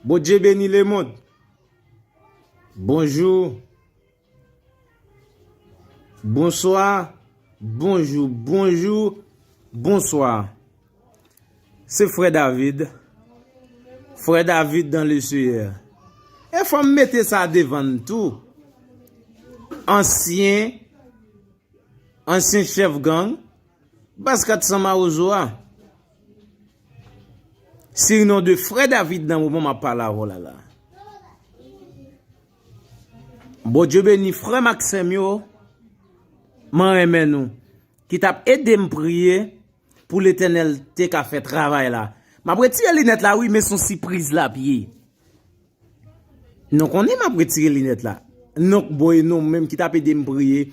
Bondye beni le mond. Bonjou. Bonswa. Bonjou. Bonjou. Bonswa. Se frè David. Frè David dan le seyè. E fò m mete sa devan tou. Ansyen. Ansyen chèf gang. Baz 400 mawozo a. Sirnon de frè David nan moman map pale avèw la la. Bondye beni frèm ak sèm yo. Mwen renmen nou. Ki tap edem priye pou letenèl te ka fè travay la. Map retire linèt la wi men son sipriz lap ye. Nou konnen map retire linèt la. Nou k boy nou menm ki tap ede m priye.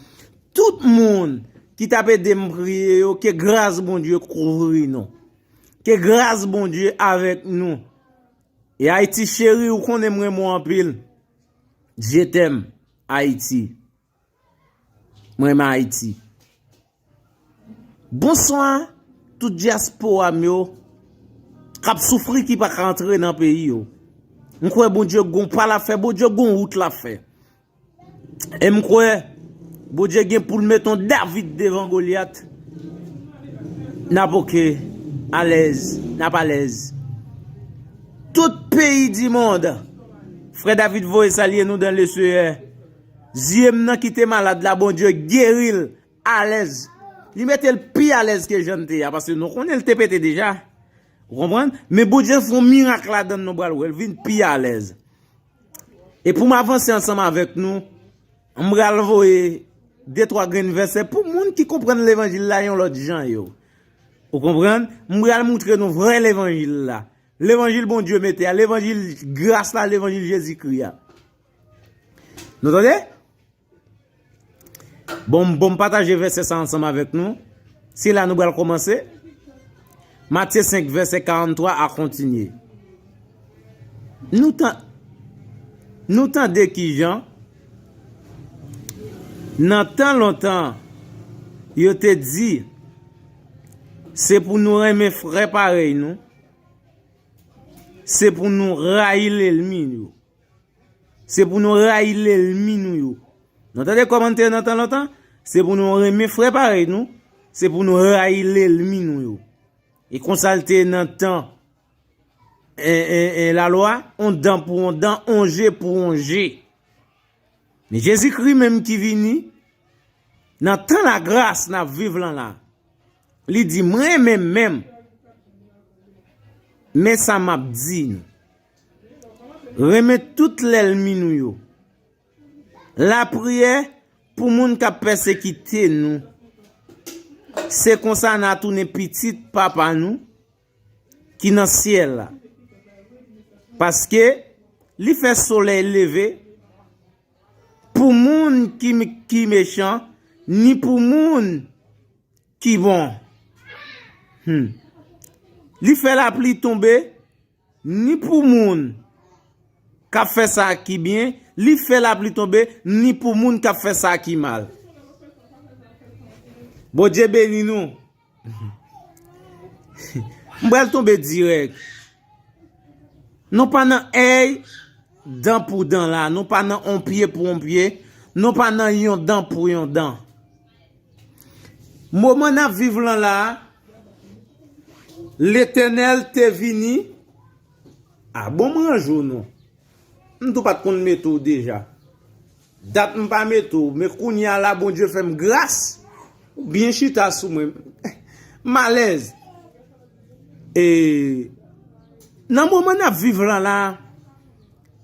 Tout moun ki tap ede m priye yo ke gras Bondye kouvri nou. Ke gras Bondye avèk nou. E Ayiti cheri ou konnen m renmen w anpil. Je t'aime Ayiti. Mwen renmen Haiti. Bonswa tout diaspora m yo kap soufri ki pa ka antre nan peyi yo. M kwe bon Dieu gon pa lap fe, bon Dieu gon wout lap fe. E m kwe bon Dieu gen poul met yon David devan Goliath. Nap ok, alez, nap alez. Tout peyi di mond, fre David voye salye nou dan le seye. Zyem nan kite malad la Bondye geril alèz li metel pi alèz ke jann te ya paske nou konnen li te pete deja ou konprann men Bondye ap fè yon mirak ladann nou pral wèl vin pi alèz e poum avanse ansanm avèk nou m pral voye de twa grenn vèsè pou moun ki konprann levanjil la yon lòt jan yo ou konprann m pral moutre nou vrè levanjil la levanjil Bondye mete ya levanjil gras la levanjil Jezikri ya. Nou tande? Bon, bon pataje vese sa ansanm avèk nou. Se la nou bal komanse. Matye 5 vese 43 a kontinye. Nou tande? Nou tande ki jan? Nan tan lontan, yo te di, se pou nou renmen frè parèy nou, se pou nou rayi lèlmi nou. Se pou nou rayi lèlmi nou yo. Nou tande kòmantè nan tan lontan? Se pou nou renmen frè parèy nou, se pou nou rayi lèlmi nou yo. E konsa l te nan tan Lalwa, yon dan pou yon dan, yon je pou yon je. Men Jezikri menm ki vini, nan tan lagras n ap viv lan la, li di, M renmen menm, men sa m ap di nou. Renmen tout lèlmi nou yo. Lapriyè pou moun k ap pèsekite nou. Se konsa n a tounen pitit Papa nou ki nan syèl la. Paske, li fè solèy leve pou moun ki mechan ni pou moun ki bon. Li fè lapli tonbe Ni pou moun k ap fè sa ki byen, li fè lapli tonbe, ni pou moun k ap fè sa ki mal. Bondye beni nou. M pral tonbe dirèk. Nou pa nan èy dan pou dan la. Nou pa nan on pye pou on pye. Nou pa nan yon dan pou yon dan. Moman n ap viv lan la a, Letènèl te vini, a bon m ranje w non, m tou pat konn mete w deja, dat m pa mete w, men kounye a la Bondye fè m gras, ou byen chita sou mwen, m alèz. E, nan moman n ap viv lan la a,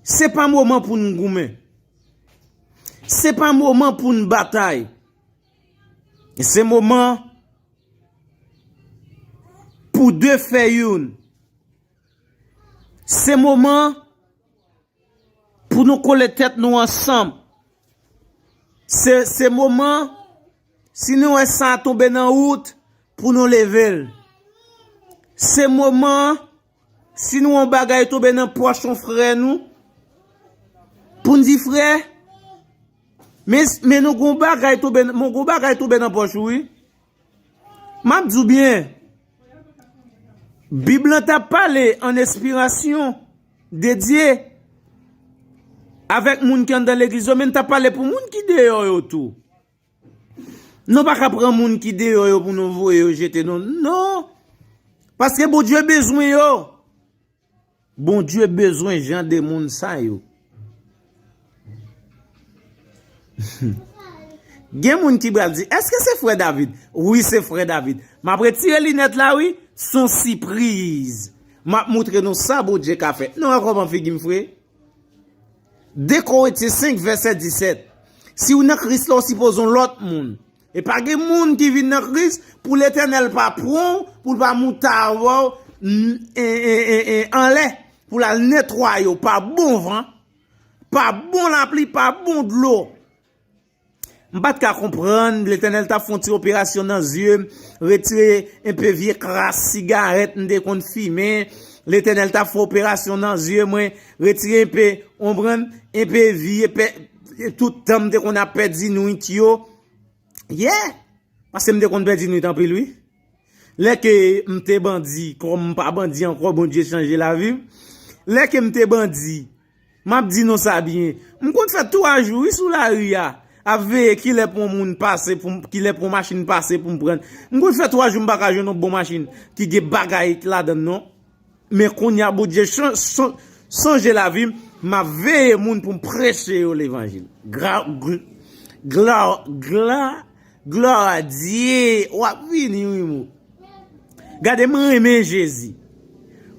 se pa moman pou n goumen. Se pa moman pou n batay. Se moman pou de fè youn. Se moman pou nou kole tèt nou ansanm. Se moman si nou wè sa a tonbe nan wout pou nou leve l. Se moman Si nou yon bagay tonbe nan pòch yon frè nou, pou n di frè, men nou gon bagay tonbe, men gon bagay tonbe nan pòch ou wi. M ap di w byen, Bib lan ta pale an espirasyon de Dye avèk moun ki anndan legliz yo, men l ta pale pou moun ki deyò yo tou. Nou pa ka pran moun ki deyò yo pou nou voye yo jete non. Non! Paske Bondye bezwen yo. Bondye bezwen jan de moun sa yo. Gen moun ki bral di, eske se frè David? Wi se frè David. M ap retire linèt la wi, son sipriz. M ap moutre nou sa Bondye ka fè. Nou wè kòman figi m fre? 2 Korinthien 5 vèsè 17 Si ou nan Kris la ou sipoze yon lòt moun. E pa gen moun ki vin nan Kris pou Letènèl pa pran ou pou l pa moute avè w anlè pou l al netwaye w pa bon van, pa bon lapli, pa bon dlo. M pat ka konprann, Letènèl tap fè yon ti operasyon nan zye m, retire enpe vye kras sigarèt m te konn fimen, Letènèl tap fè operasyon nan zye mwen, retire enpe, ou konprann, enpe vye pe, tout tan m te konn ap pèdi nwit yo, yeah! Paske m te konn pèdi nwit anpil wi. Lè ke m te bandi, kòm m pa bandi ankò, Bondye chanje lavi m. Lè ke m te bandi, m ap di nou sa byen, m konn fè 3 jou wi sou lari a, ap veye ki lè pou yon moun pase, ki lè pou yon machin pase pou m pran. M konn fè 3 jou m pa ka jwenn yon bon machin ki gen bagay ladan l non. Men kounya Bondye chanje lavi m, m ap veye moun pou m preche yo levanjil. Gloire a Dieu! W ap vini wi mou. Gade m renmen Jezi.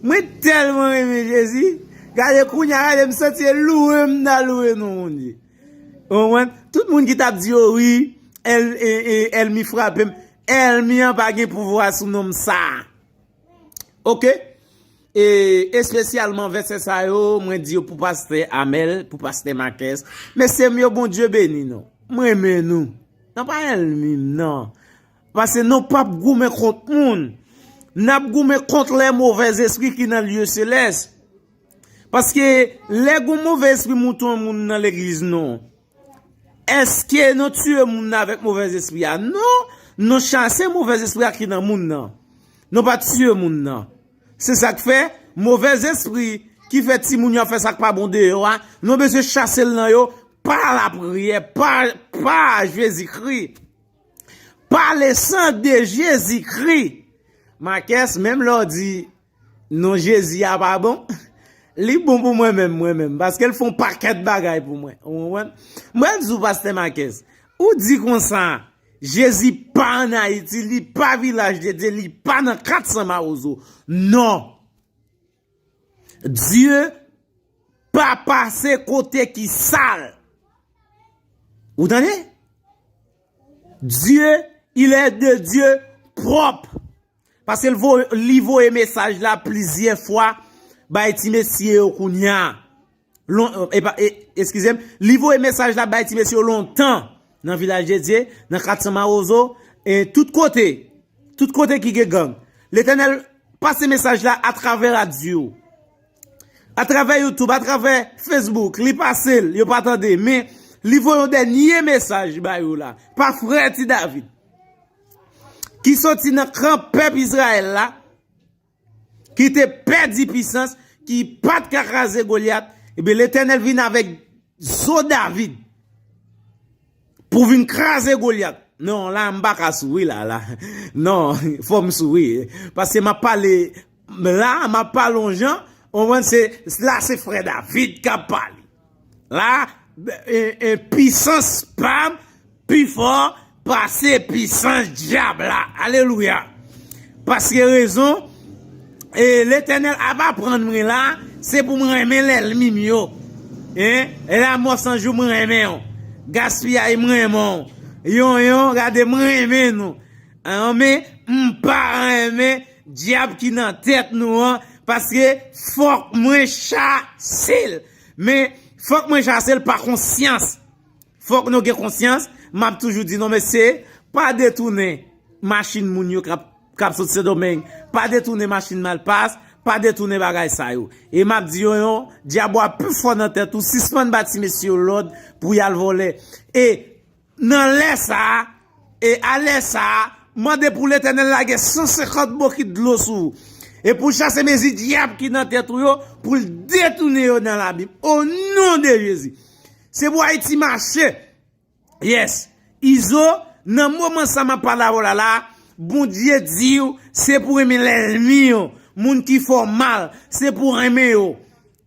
Mwen tèlman renmen Jezi, gade kounya gade m santi e louwe m nan louwe non Bondye. Ou konprann? Tout moun ki t ap di yo wi, èlmi frape m, èlmi an pa gen pouvwa sou non m sa a. Ok E espesyalman vèsè sa yo mwen di yo pou pastè Amel, pou pastè Makès. Mesye m yo Bondye beni nou. M renmen nou. Nou pa èlmi m nan. Pase nou pap goumen kont moun. N ap goumen kont lè movè zespri ki nan lye selès. Paske lè gou movè espri mouton moun nan legliz nou. Eske nou tiye moun nan avèk movèz espri a? Non, nou chase movèz espri a ki nan moun nan. Nou pa tiye moun nan. Se sa k fè, movèz espri ki fè timoun yo ap fè sa k pa bon deyò a, nou bezwen chase l nan yo pa lapriyè, pa Jezikri, pa lesan de Jezikri. Makès, menm lè w di Non jezi a pa bon. Li bon pou mwen menm mwen menm. Paske l fè yon pakèt bagay pou mwen. Ou konprann? M pral di w pastè Makèz. Ou di konsa. Jezi pa an Ayiti. Li pa vilaj de Dye. Li pa nan 400 mawozo. Non. Dye pa pase kote ki sal. Ou tande? Dye il è de Dye pwòp. Pase li voye mesaj la plizyè fwa bay ti mesye yo kounya. Eskize m, li voye mesaj la bay ti mesye yo lontan nan Vilaj de Dye, nan 400 Mawozo, e tout kote, tout kote ki gen gang. Letènèl pase mesaj la atravè radyo, atravè YouTube, atravè Facebook, li pase l, yo pa tande, men li voye yon dènye mesaj bay yo la, pa frè ti David. ki soti nan kan pèp Izrayèl la, ki te pèdi pisans, ki pa t ka kraze Golyat, ebyen Letènèl vin avèk zo David, pou vin kraze Golyat. Non, la a m pa ka souri la, la. Non, fò m souri, paske m ap pale La a map pale yon jan, ou konprann se la se frè David kap pale. La a pisans pam pi fò pase pisans dyab la. Alelouya. Paske rezon e Letènèl ap aprann mwen la a se pou mwen renmen lèlmi m yo. E la mò san jou mwen renmen ou. Gaspiyay mwen renmen ou. Yon yon gade mwen renmen nou. An men m pa renmen. Dyab ki nan tèt nou an paske fòk mwen chasel men fòk mwen chasel pa konsyans fòk nou gen konsyans map toujou di nou mesye pa detounen machin moun yo kap sot sendomeng pa detounen machin malpas pa detounen bagay sa yo e map di yo yon dyab wap pi fò nan tèt ou sispann ba ti mesye yo lòd pou yal vòlè e Nan lè sa a, e a lè sa a, mande pou Letènèl lage san senkant bokit dlo sou ou, e pou l chase mezi dyab ki nan tèt ou yo, pou l detounen yo nan labim, o non de Jezi! Se pou Ayiti mache! Yes! Izo, nan moman sa a m ap pale avè w la la a, Bondye di w, se pou renmen lènmi yo, moun ki fè w mal, se pou w renmen yo.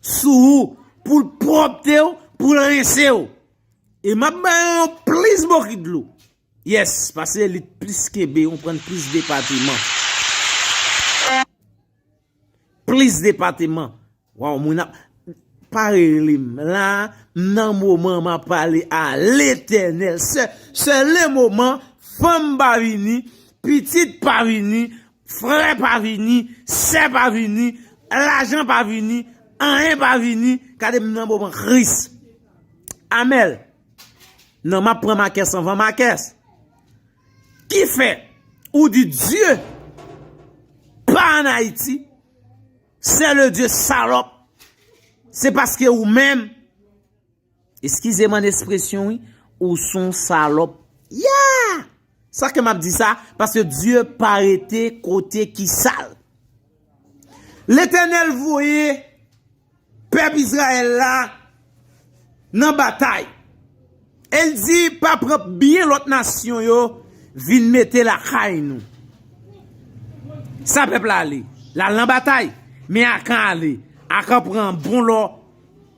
Sou ou pou l pwòpte w, pou l rense w. E m ap ba yo yon plis bokit dlo. Yes, pase li t plis kenbe yon pran plis depateman. Plis depateman. Waw mwen ap. Pa rele m la, m nan moman m ap pale a letenel. Se le moman fanm pa vini, pitit pa vini, Frè pa vini, sè pa vini, lajan pa vini, anyen pa vini, gade m nan moman kris. Amel, nan map pran makès anvan makès. Ki fè, ou di Dye pa an Ayiti, sè le Dye salòp, se paske ou menm. Eskize m'en espresyon wi, ou son salòp. Yaa! Sa ke m'ap di sa, paske Dye pa rete kote ki sal. Letènèl voye pèp Izrayèl la nan batay. E l di, pa pran byen lòt nasyon yo vin mete lakay nou. Sa pèp la ale? L'al nan batay. Men Akan ale. Akan pran bon lò.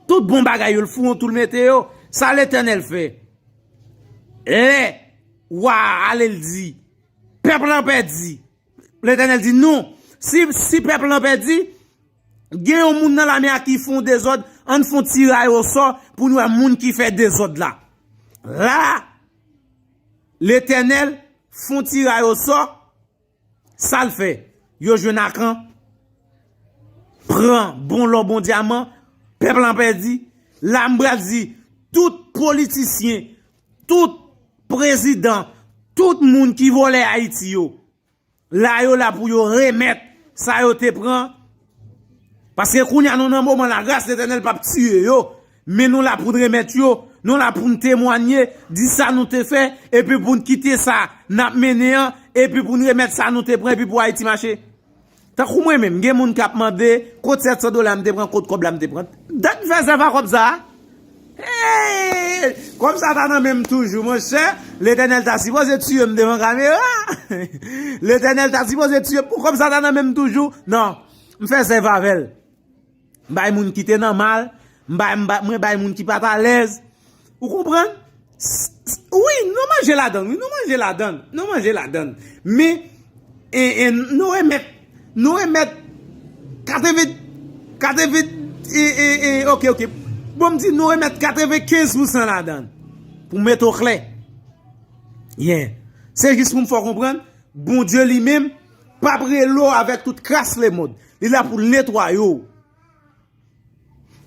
Tout bon bagay yo l fou an tou l mete yo. Sa Letènèl fè? Lè wa a ale l di, pèp lan pèdi. Letènèl di non, si pèp lan pèdi, gen yon moun nan lame a ki fon dezòd, ann fon tiray osò pou n wè moun ki fè dezòd la. La, Letènèl fon tiray osò. Sal fè yo jwenn akan pran bon lò bon dyaman pèp lan pèdi la m pral di tout politisyen tout prezidan tout moun ki vòlè ayiti yo la yo la pou yo remèt sa yo te pran Paske kounya nou nan moman la gras Letènèl pap tiye yo, men nou la poun remèt yo, nou la poun temwanye, di sa nou te fè, epi poun kite sa nap mennen an, epi poun remèt sa nou te pran epi pou Ayiti mache. Tankou mwen menm gen moun kap mande kot 700 dola m te pran, kot kòb la m te pran. Dat m fè zèv a kòb sa, Hey! Kòb sa ta nan menm toujou monchè, Letènèl ta sipoze tiyem devan kamera, Letènèl ta sipoze tiyem pou kòb sa ta nan menm toujou, nan, m fè zèv avèl, m bay moun ki te nan mal, m bay, mwen bay moun ki pa t alèz, ou konprann? Wi nou manje ladann wi nou manje ladann nou manje ladann men nou remèt nou remèt 80 80 ok ok bon m di nou remèt 95 pou san ladann pou mèt ou klè ye se jis pou m fè konprann Bondye li menm pa prele w avèk tout kras le mond li la pou netwaye w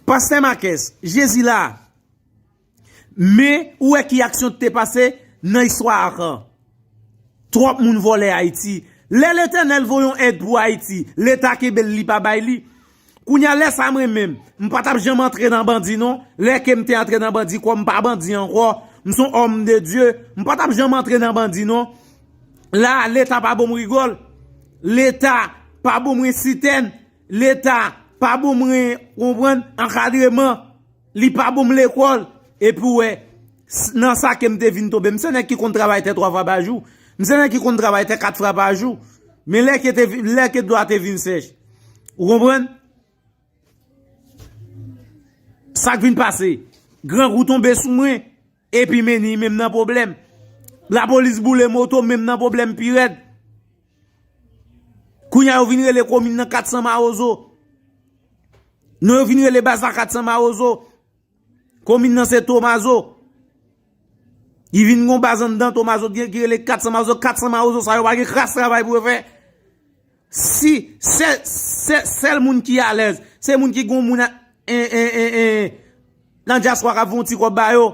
pastè makès jezi la Men, ou wè ki aksyon ki te pase nan istwa Acan. Twòp moun vòlè Ayiti. Lè Letènèl voye yon èd pou Ayiti, Leta kenbe l li pa bay li. Kounye a, lè sa mwen menm, m pa t ap janm antre nan bandi non. Lè ke m te antre nan bandi, kòm m pa bandi ankò, m s on òm de Dye, m pa t ap janm antre nan bandi non. La a, Leta pa bo m rigòl. Leta pa bo mwen sitèn. Leta pa bo mwen, konprann, ankadreman. Li pa bon m lekòl, epi w wè, nan sa ke m te vin tonbe. M se nèg ki konn travay tè twa fwa pa jou. M se nèg ki konn travay tè kat fwa pa jou. Men lè ke te, lè ke dlo a te vin sèch. Ou konprann? Sa k vin pase? Grangou tonbe sou mwen. Epi Meny menm nan pwoblèm. Lapolis boule moto menm nan pwoblèm pi rèd. Kounya yo vin rele komin nan 400 mawozo. Non yo vin rele baz la 400 mawozo. Komin nan se tomazo. Yi vin gon baz anndan tomazo ki rele 400 mawozo. 400 mawozo sa yo pa gen kras travay pou yo fè. Si se se sel moun ki alez se moun ki gon moun nan diaspora kap fon ti kob ba yo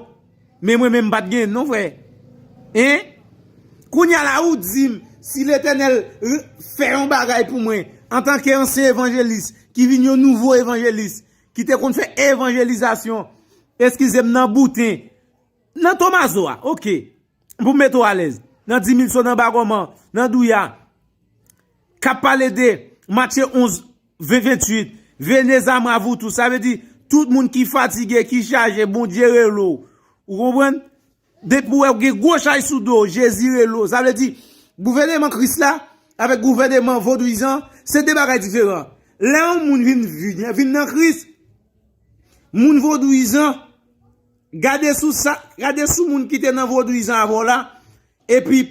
men mwen menm pat gen non frè hein kounya la ou dim si letenel fè yon bagay pou mwen antanke ansyen evanjelis ki vin yon nouvo evanjelis ki te konn fè evanjelizasyon eskizem nan bouten nan tomazo a ok. pou m mete w alèz, nan Dimilso, nan Bagòman, nan Douya, k ap pale de Matye 11, 20, 28, Vene Zamra Vou Tou, sa vle di, tout moun ki fatige, ki chaje, Bondye rele w, ou konprann? Depi w wè ou gen gwo chaj sou do w, Jezi rele w, sa vle di, gouvèneman Kris la, avèk gouvèneman vodouyizan, se de bagay diferan. Lè yon moun vin nan Kris, moun vodouyizan, Gade sou sa, gade sou moun ki te nan vodouyizan avè w la, epi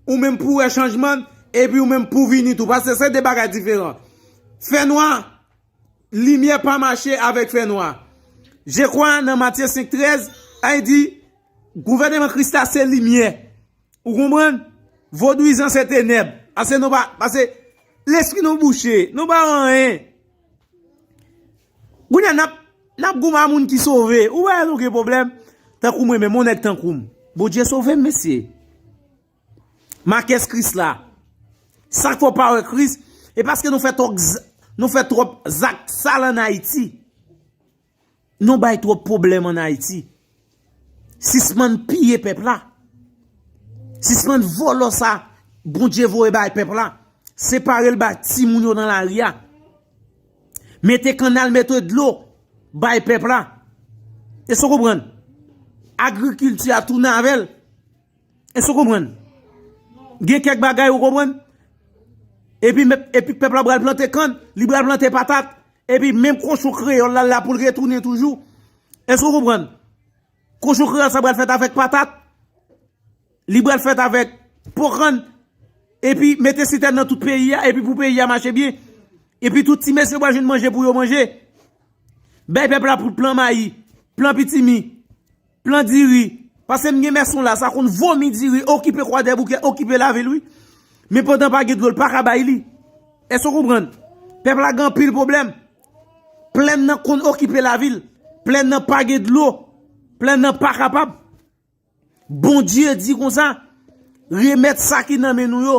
ou menm pou wè chanjman, epi ou menm pou vini tou, paske se de bagay diferan. Fè nwa, limyè pa mache avèk fè nwa. Je kwa nan Matye 5, 13, a y di, gouvèneman Kris la se limyè. Ou konprann? Vodouyizan se tenèb. Ase nou pa, pase, lespri nou bouche, nou pa anyen. Kounya nap nap goumen a moun ki sove ou wè nou gen problem tankou mwen menm on nèg tankoum Bondye sovem mesye makès kris la sak fè w pa wè kris e paske nou fè twòp zak sal an ayiti. Nou bay trop problem an Haiti. Sispann piye pep la. Sispann volo sa Bondye voye bay pep la. Separel bay ti moun yo nan la ri a. Mete kanal mete dlo bay pep la. Eso konprann. Agrikilti a tounen avel. Eso konprann. Gen kek bagay ou konprann. Epi pep la bral plante kann. Li bral plante patat. Epi menm kochon kreyòl la la pou l retounen toujou. Èske ou konprann? Kochon kreyòl sa pral fèt avèk patat, li pral fèt avèk po kann, epi mete sitèn nan tout peyi a, epi pou peyi a mache byen, epi tout ti mesye pral jwenn manje pou yo manje. Bay pèp la plan mayi, plan pitimi. Plan diri. Pase m gen mèson la sa konn vomi diri okipe kwadèboukè okipe lavil wi. Men pandan pa gen dlo l pa ka bay li. Èske w konprann? Pèp la gen anpil pwoblèm. Plèn nan konn okipe lavil. Plèn nan pa gen dlo. Plèn nan pa kapab. Bondye di konsa. Remèt sa ki nan men nou yo.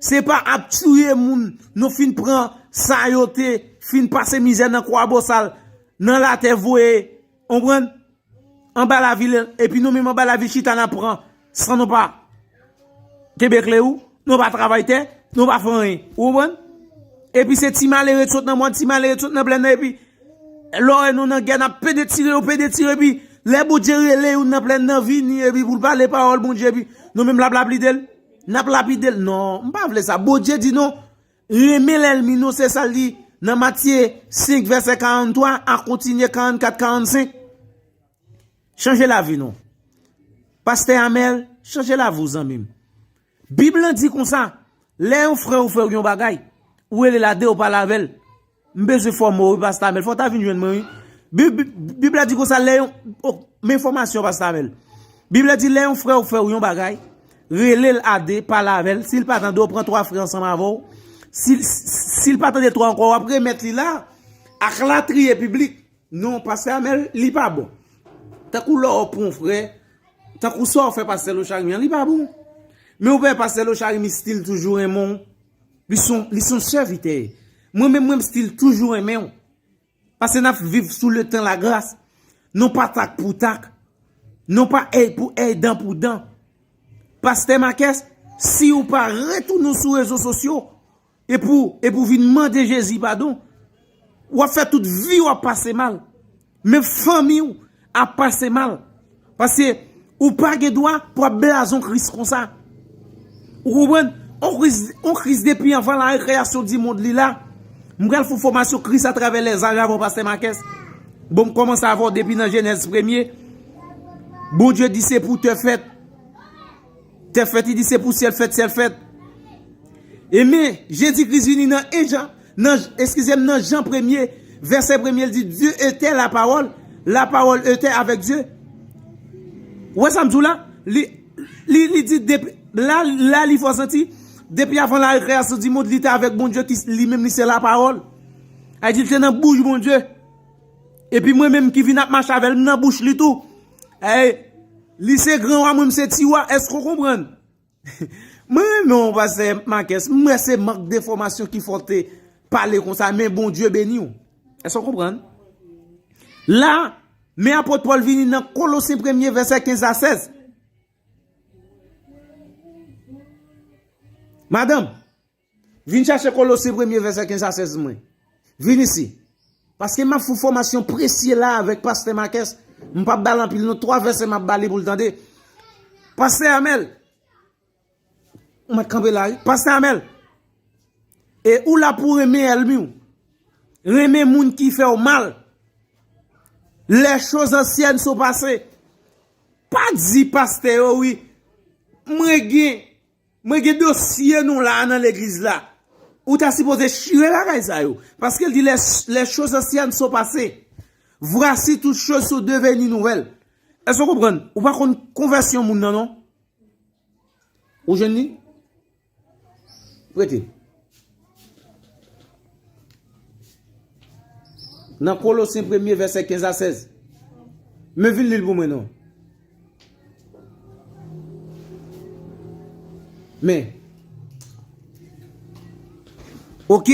Se pa ap tiye moun nou fin pran sa yo te fin pase mizè nan kwabosal nan latè voye. Konprann? Anba lavil epi nou menm anba lavil chita nan pran san nou pa kenbe kle ou, nou pa travay tè, nou pa fè anyen. Ou konprann? Epi se ti malere t sot nan mòn, ti malere t sot nan plèn nan epi lè w wè nou nan gè n ap pede tire yo, pede tire epi lè Bondye rele youn nan plèn nan vini epi pou l pale pawòl Bondye epi nou menm l ap lapide l, n ap lapide l. Non, m pa vle sa. Bondye di non, Renmen lèlmi nou se sa l di nan Matye 5 vèsè 43 a kontinye 44, 45. Chanje lavi nou. Pastè Amel, chanje lavi w zanmi m. Bib lan di konsa, lè yon frè ou fè w yon bagay, ou rele l a de ou pale avè l. M bezwen fòme w wi past Amel. Fò w ta vin jwenn mwen wi. Bib la di konsa lè yon... Oh, m en fòmasyon past Amel. Bib la di lè yon frè w fè w yon bagay, rele l a 2, pale avè l. Si l pa tande w, pran 3 frè ansanm avè w. Si l pa tande 3 ankò, w ap remèt li la ak latriye piblik. Non past Amel, li pa bon. Tankou lè w pran yon frè, tankou sa w fè past Lochary an, li pa bon. Men w wè past Lochary mistil toujou renmen w. Li son li son sèvitè. Mwen menm mwen still toujou renmenw. Pase nap viv sou le tan la gras. Non pa tak pou tak. Non pa èy pou èy dan pou dan. Pastè Makès si ou pa retounen sou rezo sosyo e pou e pou vin mande Jezi padon wap fè tout vi wap pase mal. Men fanmi w ap pase mal. Paske ou pa gen dwa pou ap blazon kris konsa. Ou konprann? On kris depi anvan la rekreyasyon di mond li la. M pral fon fomasyon kris a travè lèzaj avon pastè makès. Bon m komanse avon depi nan jenèz premye. Bondye di se pou tè fèt. Tèt fèt li di se pou syèl fèt syèl fèt. E men Jezi Kris vini nan 1 Jan, nan, eskize m, nan Jan premye, vèsè premye li di Dye etè la pawòl, la pawòl etè avèk Dye. Ou wè sa m di w la? Li, li, li di depi, la, la li fè w santi, depi avan la rekreyasyon di mond li te avèk Bondye ki li menm li se la pawòl. A di l te nan bouch Bondye. E pi mwen menm ki vini ap mache avè l m nan bouch li tou. Hey Li se gran wa mwen m se ti wa eske ou konprann? Mwen renmen w pastè Marques m wè se mank de fòmasyon ki fè w te pale konsa men Bondye beni w eske ou konprann? La men apot Paul vini nan kolosen premye vèsè 15 a 16 Madanm Vin chache Kolose premye vèsè 15 a 16 mwen. Vin isi. Paske m ap fout fòmasyon presye la avèk pastè Makès, m pap ba l anpil non, 3 vèsè m ap ba li pou l tande. Pastè Amèl! Ou mèt kanpe la wi. Pastè Amèl! E ou la pou renmen èlmi w. Renmen moun ki fè w mal. Lè choz ansyèn so pase. Pa di pastè yo wi. Mwen gen. Mwen gen dosye nou la nan legliz la. Ou ta sipoze chire bagay sa yo. Paske l di les choses anciennes sont passées. Voici toutes choses sont devenues nouvelles. Èske ou konprann? Ou pa konn konvèsyon moun nan non. Ou jwenn li? Prete. Nan Kolosyen premye vèsè 15 a 16. Men vin li l pou mwen non. Men. Ok.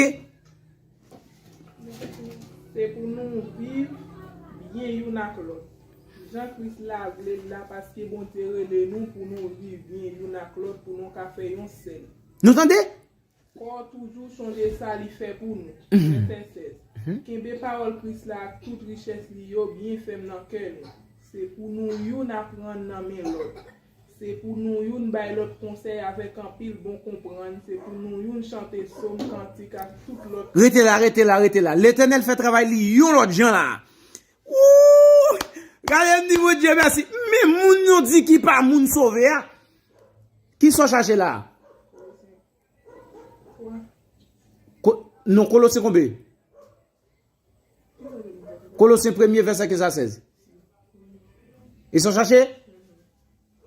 Se pou nou viv byen youn ak lòt. Jan Kris la vle l la paske Bondye rele nou pou nou viv byen youn ak lòt pou nou ka fè yon sèl. Nou tande? Kò toujou chonje sa li fè pou nou. Vèsè 16. Kenbe pawòl Kris la ak tout richès li yo byen fèm nan kè nou. Se pou nou youn aprann nan men lòt. Se pou nou youn bay lòt konsèy avèk anpil bon konprann, se pou nou youn chante som, kantik ak tout lòt. Rete la, rete la, rete la. Letènèl fè travay li yon lòt jan la a. Wouuh! Gade m di Bondye mèsi. Men moun yo di ki pa moun sove a, Kisa w chache la a? Non, Kolosyen konbe? Kolosyen premye vèsè 15 a 16. E sa w chache?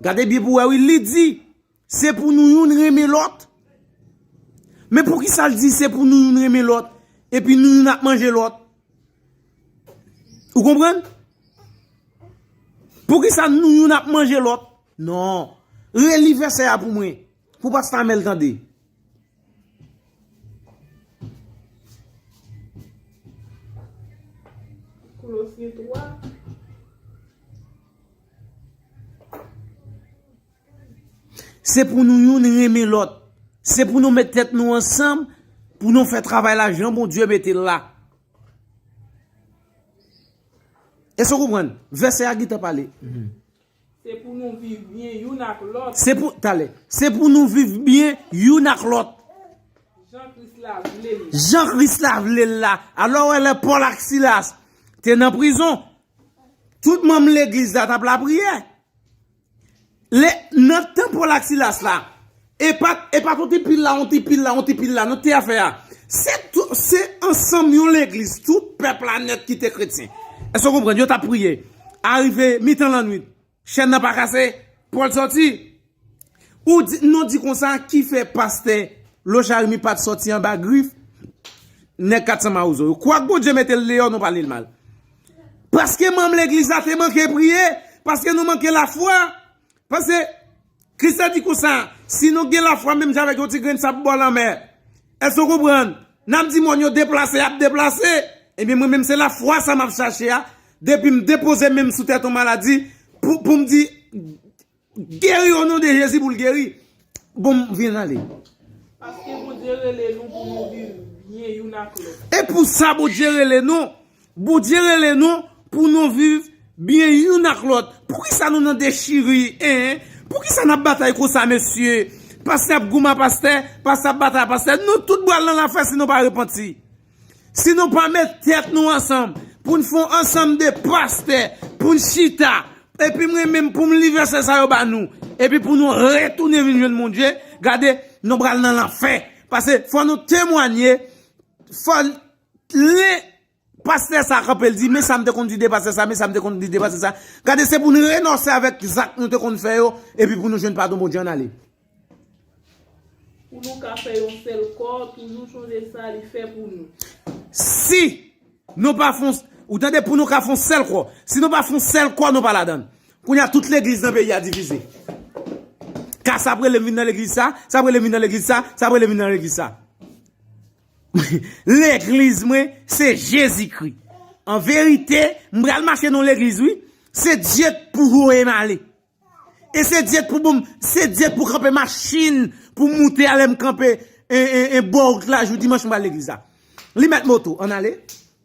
Gade byen pou wè wi, li di, se pou nou youn renmen lòt. Men pou kisa l di se pou nou youn renmen lòt, epi nou youn ap manje lòt? Ou konprann? Pou kisa nou youn ap manje lòt? Non. Reli vèsè a pou mwen. Pou pasta Amel tande. Kolosye 3. Se pou nou youn renmen lòt. Se pou nou met tèt nou ansanm pou nou fè travay la jan Bondye mete l la. Èske w konprann? Vèsè a gentan pale. Se pou nou viv byen youn ak lòt. Se pou, tale. Se pou nou viv byen youn ak lòt. Jan Kris la vle l. Jan Kris la vle l la. Alò wè lè Pòl ak Silas te nan prizon, tout manm legliz la t ap lapriyè. Lè, nan tan Pòl ak Silas la, Epa epa ton ti pil la yon ti pil la yon ti pil la nan te afè a se tout se ansanm yon legliz tout pèp la nèt ki te kretyen èske w konprann yo t ap priye arive mitan lannwit chèn nan pa kase Pòl sòti ou di nou di konsa ki fè pastè Lo Jarimi pa t sòti anba grif nèg 400 mawozo yo kwak Bondye mete l deyò nou pale l mal paske manm legliz la te manke priye paske nou manke lafwa paske Kris te di konsa, Si nou gen lafwa menm jan avèk yon ti grenn sab bò lanmè. Èske w konprann? N ap di mòn yo deplase, y ap deplase. Ebyen, mwen menm se lafwa sa a m ap chache a, depi m depoze men m sou tèt yon maladi, pou m di, Geri o non de Jezi pou l geri. Bon, m vin ale. Paske Bondye rele nou pou nou viv byen youn ak lòt. E pou sa Bondye rele nou. Bondye rele nou pou nou viv byen youn ak lòt poukisa nou nan dechiri hein poukisa nap batay konsa mesye pastè ap goumen a pastè pastè ap batay a pastè nou tout bwal nan lafè si nou pa repanti si nou pa met tèt nou ansanm poun fon ansanm de pastè poun chita epi mwen menm poum li vèsè sa yo ba nou epi pou nou retounen vin jwenn Bondye gade nou bwal nan lafè pase fò nou temwanye fò Tnde pastè sa kanpe l di men sa m te konn di de pastè sa men sa m te konn di de pastè sa gade se pou nou renonse avèk zak nou te konn fè yo epi pou nou jwenn padon Bondye ann ale. Pou nou ka fè yon sèl kò toujou sonje sa li fè pou nou. Si Nou pa fon ou tande pou nou ka fon sèl kò si nou pa fon sèl kò nou pa ladan l kounye a tout legliz nan peyi a divize ka sa ap rele m vin nan legliz sa sa ap rele m vin nan legliz sa sa ap rele m vin nan legliz sa. Legliz mwen se Jezikri. An verite, m pral mache nan yon legliz wi. Se Dye k pou voye m ale. E se Dye k pou ban m, se Dye k pou kanpe machin pou m moute a lè m kanpe bò wout la jou dimanch m pral legliz la. Li met moto, ann ale.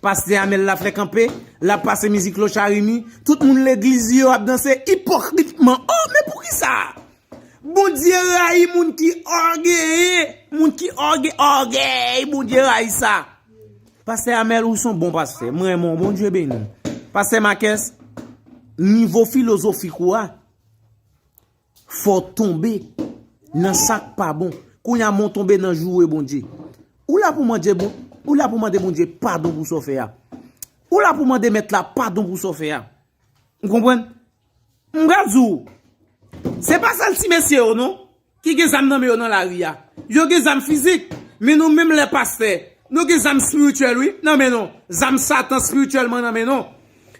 Pastè Amel la fè kanpe, lap pase mizik Lo Charimi, tout moun legliz yo ap danse ipokritman oh men poukisa? Bondye rayi moun ki ògeye, moun ki òge, ògèy Bondye rayi sa. Pastè Amel ou son bon pastè, mwen renmen w Bondye beni w. Pastè Makès, nivo filozofik ou a. Fò tonbe nan sak pa bon. Kounya men w tonbe nan joure Bondye. Ou la pou mande bon, ou la pou mande Bondye padon pou sa w fè a. Ou la pou mande mèt la padon pou sa w fè a. Ou konprann? M pral di w, se pa sèl ti mesye yo non ki gen zam nan men yo nan lari a. Yo gen zam fizik, men nou menm lè pastè, nou gen zam spirityèl wi nan men nou. Zam satan spirityèlman nan men nou.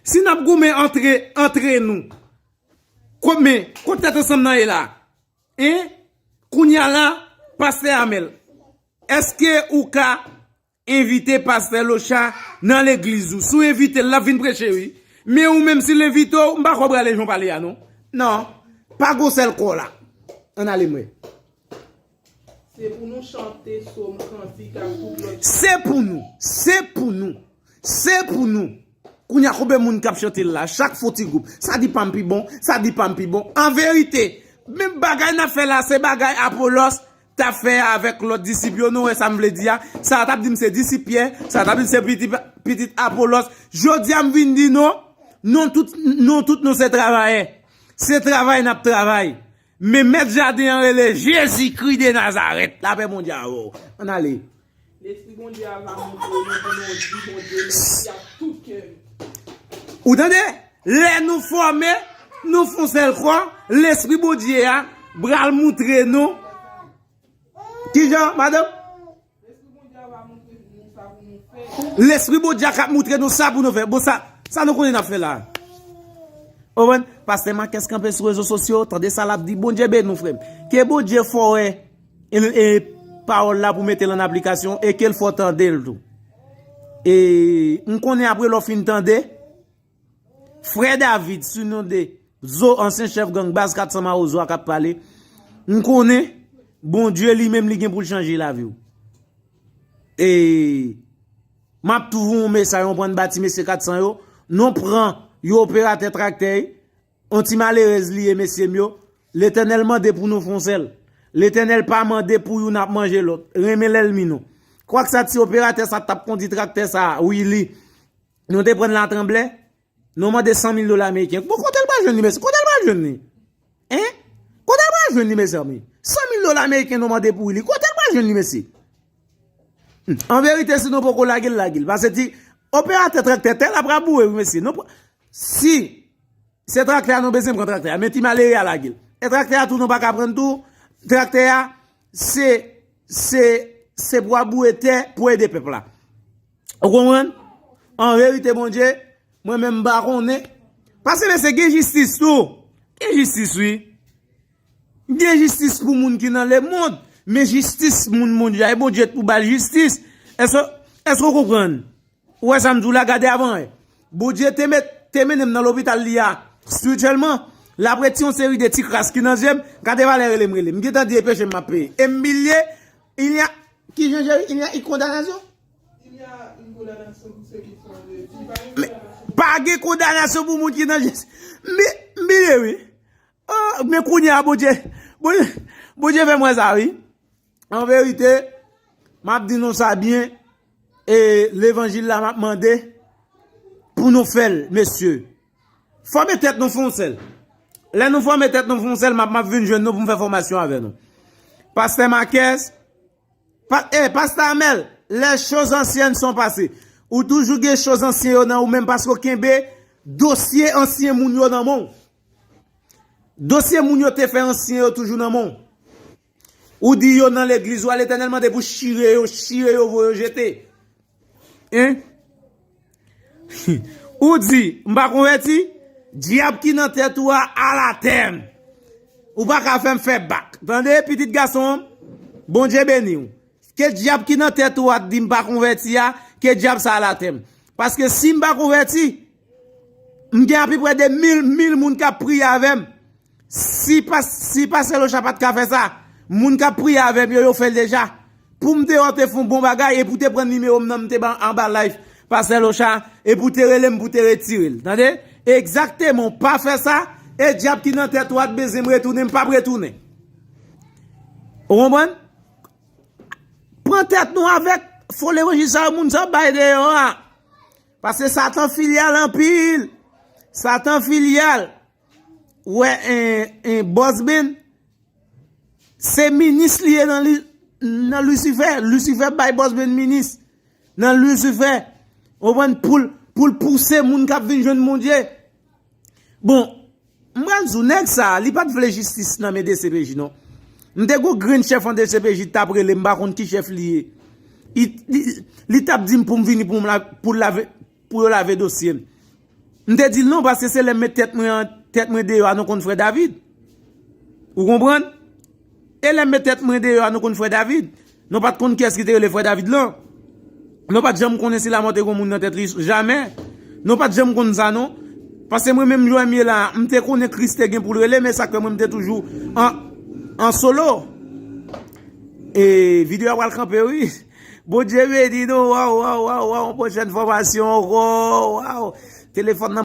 Si n ap goumen antre nou. Kòm men, kot tèt ansanm nan ye la? Hein? Kounya la, Pastè Amel, èske ou ka envite Pastè Locha nan legliz ou? Si w envite l, l ap vin preche wi. Men ou menm si l envite w, m pa kwè w prale jan w pale a non. Non, pa gwosè l kò la. Ann ale m wè. Se pou nou chante som, kantik ak tout lòt chante. Se pou nou, se pou nou, se pou nou. Kounye a konbe moun k ap chante l la? Chak fo ti gwoup. Sa di pa m pi bon, sa di pa m pi bon. An verite, menm bagay n ap fè la se bagay Apolòs t ap fè avèk lòt disip yo. Nou wè sa m vle di a? Sa a t ap di m se disip Pyè, sa a t ap di m se pitit Apolòs. Jodi a m vin di nou, nou tout nou se travayè. Se travay n ap travay. Men mèt jaden an rele Jezi kri de Nazarèt. La pè Bondye avè w. Ann ale. Lespri Bondye a va montre w nan voulow di Bondye mèsi ak tout kè nou. Ou tande? Lè nou fòme, nou fon sèl kò, Lespri Bondye a bral montre nou. Kijan, madanm? Lespri Bondye a kap moutre nou sa pou nou fè. Bon sa nou konnen nap fè la. Ou wè, pastè Makès kanpe sou rezo sosyo, tande sa lap di, Bondye beni ou frèm. Ke Bondye fè ou wè e pawòl la pou mete l an aplikasyon e ke l fè ou tande l tou. E m konnen apre lè ou fin tande. Frè David sou non de Zo ansyen chèf gang baz 400 mawozo a kap pale, m konnen Bondye li menm li gen poul chanje lavi w. E map tou voun w mesay on prann ba ti mesye 400 yo, non pran yon operatè traktè y, on ti malerez li ye mesye m yo, Letènèl mande pou nou fon sèl. Letènèl pa mande pou youn ap manje lòt. Renmen lèlmi nou. Kwak sa ti operatè sa tap kondi traktè sa wi li. Nou te pran la tranble, nou mande 100 mil dola Ameriken. Bon, kote l pa jwen ni mesi? Kote l pa jwen ni? He? Kote l pa jwen ni mesi anmi? 100 mil dola Ameriken nou mande pou li, kote l pa jwen ni mesi? En verite, si nou poko lage l, lage l. Pase ti, operate trak te te la pra bou e, mesi. Si, se trak te a nou bezem kon trak te a, men ti malere a lage l. E trak te a tou nou pa ka pran tou, trak te a, se, se, se pou a bou e te, pou e de pepla. Ou konprann? An verite Bondye, mwen menm m pa konnen. Pase lese gen jistis tou. Gen jistis wi. Gen jistis pou moun ki nan lemond. Men jistis moun Bondye a. E Bondye pou bal jistis. Eske ou konprann? Ou wè sa m di w la gade avan e. Bondye te met, te mennen m nan lopital li a. Spirituellement. L ap reti yon seri de ti kras ki nan zye m. Gade valè rele m rele m. M gentan di e peche m m ap peye. E m bilye. Ilya. Ki jan cheri? Ilya y kondanasyon? Pa gen kondanasyon pou moun ki nan jezi. M bine wi. Men kounye a Bondye. Bondye fè m wè sa wi. An verite, m ap di nou sa byen. E levanjil la m ap mande pou nou fè l, mesye. Fòme tèt nou fon sèl. Lè nou fòme tèt nou fon sèl, m ap vin jwenn nou pou m fè fòmasyon avè nou. Pastè Makès. Eh pasta Amel, lè choz ansyen son pase. Ou toujou gen choz ansyen yo nan ou menm paske ou kenbe dosye ansyen moun yo nan menw. Dosye moun yo te fè ansyen yo toujou nan menw. Ou di yo nan legliz ou a letènèl mande pou chire yo, chire yo voye yo jete. Hein? Ou di, m pa konvèti? Dyab ki nan tèt ou a al atè! Ou pa ka fè m fè bak. Tande, pitit gason m, Bondye beni w. Ke dyab ki nan tèt ou a t di m pa konvèti a, ke dyab sa al atè m. Paske si m pa konvèti, m gen apiprè de mil, mil moun k ap priye avè m. Si si pastè locha pat ka fè sa moun kap priye avèm yo yo fèl deja poum te wèw te fon bon bagay epi ou te pran nimewo m nan m te ba anba live pastè locha epi ou te relem pou te retirel tande egzakteman ou pa fè sa e dyab ki nan tèt ou a t bezyen m retounen m pap retounen ou konprann pran tèt nou avèk fo levanjil sa yo moun sa yo ap bay deyò a paske satan filyal anpil satan filyal Wè en boss Ben Se minis li ye nan lucifer Lucifer bay boss Ben minis Nan lucifer Ou ven poul poul pouse moun kap vin jwen bondye Bon Mwen zou nèg sa li pat vle jistis nan men dcpj non Mte gou grenn chef an dcpj tap rele mpa konn ki chef li ye Li tap dim poum vini poum la poul la vin Pou yo lave dosye m. M te di l non paske se lè m met tèt mwen an tèt mwen deyò a nou konn frè David. Ou konprann? E lè m met tèt mwen deyò a nou konn frè David. Nou pat konn kiyès ki te rele frè David lan. Nou pat janm konnen si Lamò te gen yon moun nan tèt li jamè. Nou pat janm konn sa non. Paske mwen menm lè m ye la a m te konnen Kris te gen pou l rele men sa k fè mwen m te toujou an solo. E video a pral kanpe wi. Bondye beni nou waw waw waw waw yon pwochèn fòmasyon ankò waw telefòn nan.